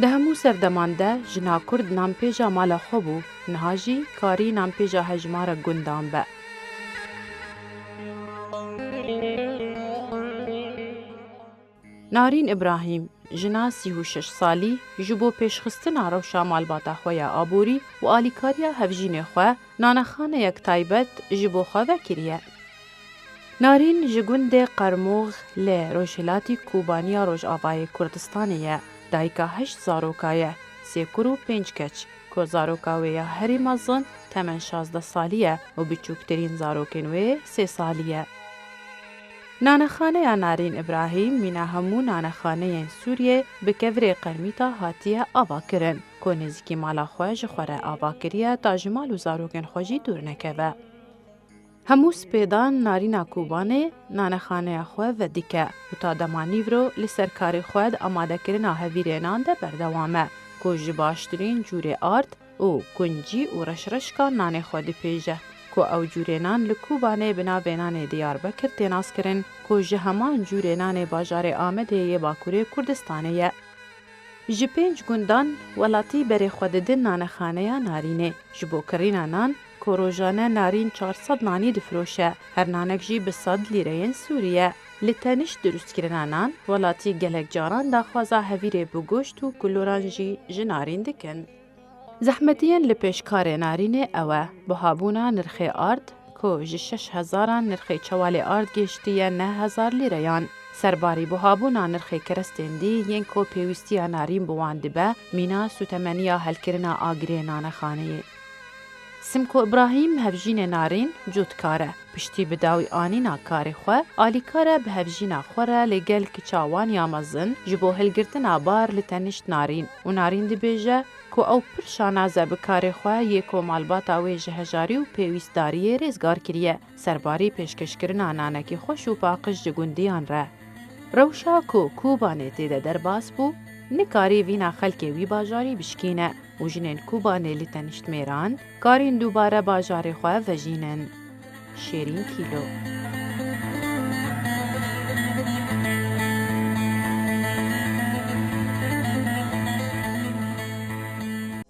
Di hemû serdeman de jina kurd nanpêja mala xwe bû, niha jî karî nanpêja hejmara gundan be. Narîn Îbrahîm, jina sî û şeş salî ji bo pêşxistina rewşa malbata xwe ya aborî û alîkariya hevjînê xwe, nanexaneyek taybet ji bo xwe vekiriye. Narîn ji gundê Qermûx li rojhilatî Kobaniya Rojavayê Kurdistanê ye. Dayika heşt zaroka ye, sê kur û pênc keç, ku zaroka wê ya herî mezin temen şazdeh salî ye û biçûktirîn zarokên wê sê salî ye. Nanexaneya Narîn Îbrahîm mîna hemû nanexaneyên Sûriyê bi kevirê qermîta hatiye avakirin, ku nêzîkî mala xwe ji xwe re avakiriye ta ji mal û zarokên xwe jî dûr nekeve. Hemû spêdan Narîna Kobanê nanexaneya xwe vedike û ta dema nîvro li ser karê xwe di amadekirina hevîrênan de berdewam e ku ji baştirîn cûrê ard û kuncî û reşreşkan nanê xwe dipêje ku ew cûrênan li Kobanê bi navê nanê Diyarbekir tê naskirin ku ji heman cûrê nanê bajarê Amedê yê Bakurê Kurdistanê ye. Ji pênc gundan welatî berê xwe didin nanexaneya Narînê ji bo kirîna nan, Ku rojane narîn çar sed nanî difiroşe, her nanek jî bi sed lîreyên sûrî ye. Li tenişt dirustkirina nan, welatî gelek caran daxwaza hevîrê bi goşt û kuloran jî ji narîn dikin. Zehmetiyên li pêş karê narînê ew e, buhabûna nirxê ard, ku ji şeş hezaran nirxê çewalê ard gêştiye neh hezar lîreyan. Serbarî buhabûna nirxê kerestên dî yên ku pêwîstiya narîn bi wan dibe, mîna sûtemeniya helkirina agirê nanexaneyê. Simko Ibrahîm hevjînê Narîn cûtkar e. Piştî bi dawî anîna karê xwe, alîkar e bi hevjîna xwe re lê gel kiça wan ya mezin ji bo hilgirtina bar li tenişt Narîn û Narîn dibêje ku ew pir şanaz e bi karê xwe yê ku malbata wê ji hejarî û pêwîstdariyê rêzgar kiriye. Serbarî pêşkêşkirina nanekî xweş û paqij ji gundiyan re. Rewşa ku Kobanê tê de derbas bû, nikarî vîna xelkê wî bajarî bişkîne û jinên Kobanê li teniştmêran karîn dubare bajarê xwe vejînin. Şêrîn Kîlo.